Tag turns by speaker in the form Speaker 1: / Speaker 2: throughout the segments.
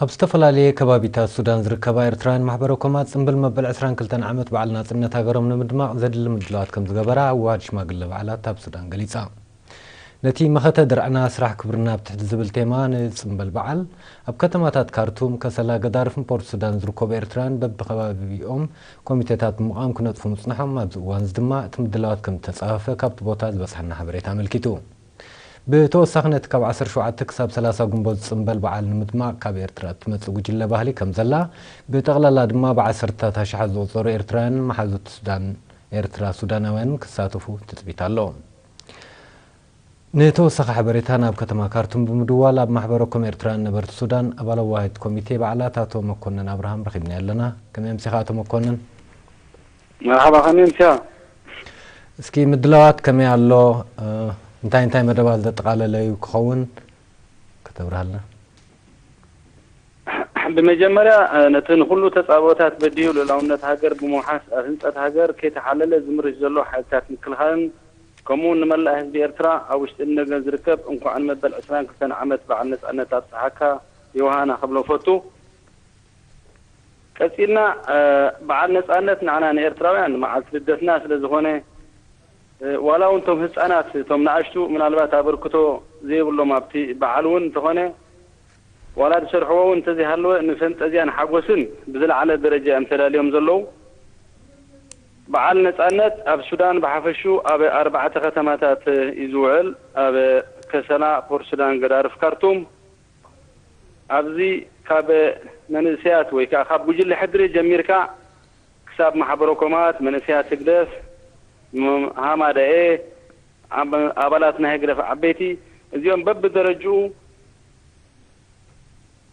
Speaker 1: ኣብ ዝተፈላለየ ከባቢታት ሱዳን ዝርከባ ኤርትራውያን ማሕበረ-ኮማት ጽምብል መበል ዕስራን ክልተን ዓመት በዓል ናጽነት ሃገሮም ንምድማቕ ዘድሊ ምድላዋት ከምዝገበራ ኣወሃድ ሽማግለ በዓላት ኣብ ሱዳን ገሊጻ። ነቲ መኸተ ድርዕና ስራሕ ክብርና ኣብ ትሕቲ ዝብል ቴማ ንጽምበል በዓል ኣብ ከተማታት ካርቱም፣ ከሰላ፣ ገዳርፍን ፖርት ሱዳን ዝርከቡ ኤርትራውያን በብከባቢኦም ኮሚቴታት ብምቛም ክነጥፉ ምጽንሖም ኣብዚ እዋንዚ ድማ እቲ ምድላዋት ከምዝተጻፈፈ ካብቲ ቦታ ዝበጽሓና ሓበሬታ ኣመልኪቱ። ብተወሳኺ ነቲ ካብ ዓሰርተ ሸውዓተ ክሳብ ሰላሳ ግንቦት ዝጽንበል በዓል ንምድማቕ ካብ ኤርትራ እትመጽእ ጉጅለ ባህሊ ከምዘላ፣ ብጠቕላላ ድማ ብዓሰርተታት ኣሽሓት ዝቑጸሩ ኤርትራውያንን መሓዙት ሱዳን ኤርትራ ሱዳናውያንን ክሳተፉ ትጽቢት ኣሎ። ንተወሳኺ ሓበሬታ ናብ ከተማ ካርቱም ብምድዋል ኣብ ማሕበረ ኮም ኤርትራውያን ነበርቲ ሱዳን ኣባል ኣዋሃሂድ ኮሚቴ በዓላት ኣቶ መኮነን ኣብርሃም ረኺብናዮ ኣለና። ከመይ ኣምሲኻ ኣቶ መኮነን?
Speaker 2: መርሓባ ከመይ ኣምሲኻ።
Speaker 1: እስኪ ምድላዋት ከመይ ኣሎ እንታይ እንታይ መደባት ዘጠቓለለ እዩ ክኸውን ከተብርሃልና።
Speaker 2: ብመጀመርያ ነቲ ንኹሉ ተጻብኦታት በዲሁ ልኡላውነት ሃገር ብምውሓስ ኣብ ህንጸት ሃገር ከይተሓለለ ዝምርሽ ዘሎ ሓይልታት ምክልኻልን ከምኡውን ንመላእ ህዝቢ ኤርትራ ኣብ ውሽጥን ንደገን ዝርከብ እንኳዕ ንመበል ዕስራን ክልተን ዓመት በዓል ነጻነት ኣብጽሓካ ዮውሃና ክብሎም ፈቱ። ቀጺልና በዓል ነጻነት ንዓና ንኤርትራውያን መዓልቲ ልደትና ስለ ዝኾነ ዋላ ውን እቶም ህጻናት እቶም ነኣሽቱ ምናልባት ኣበርክቶ ዘይብሎም ኣብቲ በዓል ውን እንተኾነ ዋላ ዝሰርሕዎ ውን እንተዘይሃለወ ንፈንጠዝያን ሓጎስን ብዝለዓለ ደረጃ እዮም ተዳልዮም ዘለዉ። በዓል ነጻነት ኣብ ሱዳን ብሓፈሽኡ ኣብ ኣርባዕተ ከተማታት እዩ ዝውዕል፣ ኣብ ከሰላ፣ ፖርትሱዳን፣ ገዳርፍ፣ ካርቱም። ኣብዚ ካብ መንእሰያት ወይ ከኣ ካብ ጉጅለ ሕድሪ ጀሚርካ ክሳብ ማሕበረኮማት መንእሰያት ህግደፍ፣ ሃማደኤ፣ ኣባላት ናይ ህግደፍ ዓበይቲ እዚኦም በብደረጅኡ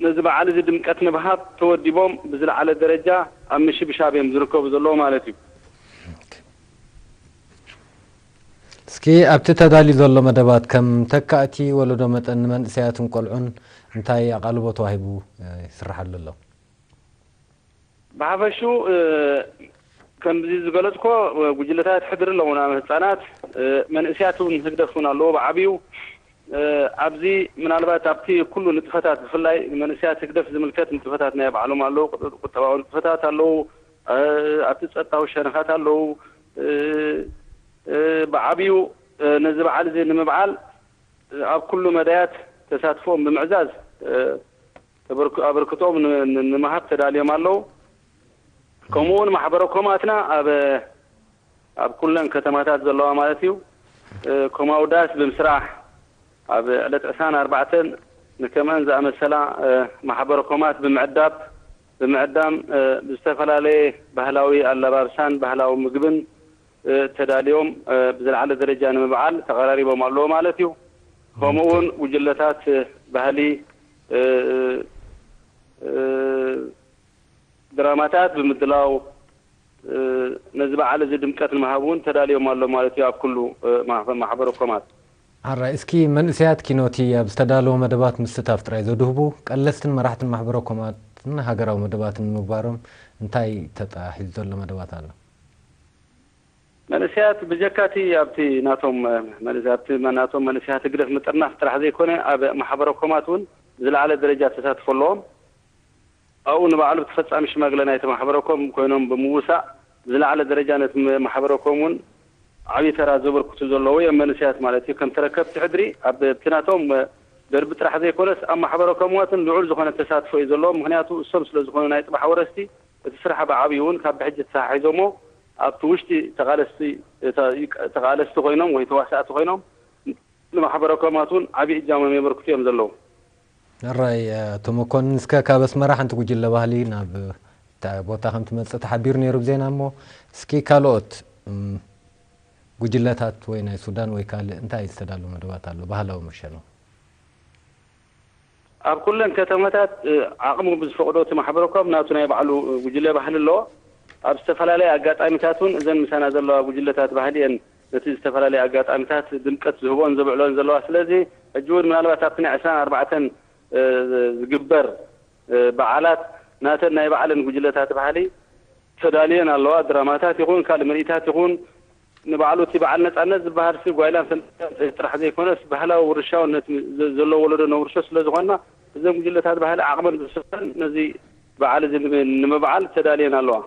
Speaker 2: ነዚ በዓል እዚ ድምቀት ንምሃብ ተወዲቦም ብዝለዓለ ደረጃ ኣብ ምሽብሻብ እዮም ዝርከቡ ዘለዉ ማለት እዩ።
Speaker 1: እስኪ ኣብቲ ተዳልዩ ዘሎ መደባት ከም ተካእቲ ወለዶ መጠን ንመንእሰያትን ቆልዑን እንታይ ኣቓልቦ ተዋሂቡ ይስርሓሉ ኣሎ?
Speaker 2: ብሓፈሽኡ ከምዚ ዝገለጽኩዎ ጉጅለታት ሕድሪ ኣለዉና፣ ህጻናት፣ መንእሰያት እውን ህግደፍ እውን ኣለዎ ብዓቢኡ። ኣብዚ ምናልባት ኣብቲ ኩሉ ንጥፈታት ብፍላይ ንመንእሰያት ህግደፍ ዝምልከት ንጥፈታት ናይ ባዕሎም ኣለዉ፣ ቁጠባዊ ንጥፈታት ኣለዉ፣ ኣብቲ ጸጥታዊ ሸነኻት ኣለዉ፣ ብዓቢኡ ነዚ በዓል እዚ ንምብዓል ኣብ ኩሉ መዳያት ተሳትፎኦም ብምዕዛዝ ኣበርክቶኦም ንምሃብ ተዳልዮም ኣለዉ። ከምኡ እውን ማሕበረ ኮማትና ኣብ ኣብ ኩለን ከተማታት ዘለዋ ማለት እዩ ኮማዊ ዳስ ብምስራሕ ኣብ ዕለት ዕስራን ኣርባዕተን ንከምእን ዝኣመሰላ ማሕበረ ኮማት ብምዕዳብ፣ ብምዕዳም ብዝተፈላለየ ባህላዊ ኣላባብሳን ባህላዊ ምግብን ተዳልዮም ብዝለዓለ ደረጃ ንምብዓል ተቐራሪቦም ኣለዉ ማለት እዩ። ከምኡ እውን ጉጅለታት ባህሊ ድራማታት ብምድላው ነዚ በዓል እዚ ድምቀት ንምሃብ እውን ተዳልዮም ኣለዉ ማለት እዩ ኣብ ኩሉ ማሕበረ ኮማት። ሐራይ
Speaker 1: እስኪ መንእሰያት ኪኖ'ቲ ኣብ ዝተዳለወ መደባት ምስታፍ ጥራይ ዘድህቡ ቀለስትን መራሕትን ማሕበረ-ኮማትን ሃገራዊ መደባትን ንምግባሮም እንታይ ተጣሒዙ ዘሎ መደባት ኣሎ?
Speaker 2: መንእሰያት ብጀካ'ቲ ኣብ'ቲ ናቶም ኣብ'ቲ ናቶም መንእሰያት ህግደፍ ምጥርናፍ ጥራሕ ዘይኮነ ኣብ ማሕበረ-ኮማት ውን ዝለዓለ ደረጃ ተሳትፎ ኣለዎም። ኣብኡ ንባዕሉ ተፈጻሚ ሽማግለ ናይቲ ማሕበረኮም ኮይኖም ብምውሳእ ብዝለዓለ ደረጃ ነቲ ማሕበረኮም እውን ዓብይ ተራ ዘበርክቱ ዘለዉ እዮም መንእሰያት ማለት እዩ ከም ተረከብቲ ሕድሪ ኣብቲ ናቶም ደርቢ ጥራሕ ዘይኮነስ ኣብ ማሕበረኮም እዋትን ልዑል ዝኾነ ተሳትፎ እዩ ዘለዎም ምኽንያቱ እሶም ስለ ዝኾኑ ናይ ጽባሕ ወረስቲ እቲ ስራሕ ብዓብዩ እውን ካብ ብሕጂ ተተሓሒዞሞ ኣብቲ ውሽጢ ተቓለስቲ ተቓለስቲ ኮይኖም ወይ ተዋሳእቲ ኮይኖም ንማሕበረኮማት እውን ዓብይ እጃሞም የበርክቱ እዮም ዘለዉ ሕራይ
Speaker 1: ኣቶ መኮንን እስከ ካብ ኣስመራ ሓንቲ ጉጅለ ባህሊ ናብ እንታይ ቦታ ከም ትመጽእ ተሓቢሩ ነይሩ ብ ዜና እሞ እስኪ ካልኦት ጉጅለታት ወይ ናይ ሱዳን ወይ ካልእ እንታይ ዝተዳለወ መደባት ኣሎ ባህላዊ መሸኖ?
Speaker 2: ኣብ ኩለን ከተማታት ዓቕሙ ብዝፈቕዶ እቲ ማሕበረ ኮም ናቱ ናይ ባዕሉ ጉጅለ ባህሊ ኣለዎ። ኣብ ዝተፈላለየ ኣጋጣሚታት እውን እዘን ምሳና ዘለዋ ጉጅለታት ባህሊ እየን ነቲ ዝተፈላለየ ኣጋጣሚታት ድምቀት ዝህብኦን ዘብዕልኦን ዘለዋ። ስለዚ ሕጂ እውን ምናልባት ኣብቲ ናይ ዕስራን ኣርባዕተን ዝግበር በዓላት ናተን ናይ ባዕለን ጉጅለታት ባህሊ ተዳልየን ኣለዋ። ድራማታት ይኹን ካልእ ምርኢታት ይኹን ንባዕሉ እቲ በዓል ነጻነት ዝበሃልሲ ጓይላን ፈንጠዝያን ጥሪት ጥራሕ ዘይኮነስ ባህላዊ ውርሻውን ነቲ ዘሎ ወለዶ ነውርሾ ስለ ዝኾንና እዘን ጉጅለታት ባህሊ ዓቕመን ብዝሰፈን ነዚ በዓል እዚ ንምብዓል ተዳልየን ኣለዋ።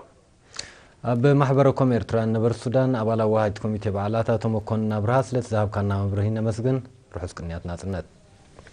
Speaker 2: ኣብ
Speaker 1: ማሕበረ ኮም ኤርትራውያን ነበርቲ ሱዳን ኣባል ኣዋሃጅት ኮሚቴ በዓላት ኣቶ መኮንን ኣብርሃ ስለቲ ዝሃብካና መብርሂ ነመስግን። ርሑስ ቅንያት ናጽነት።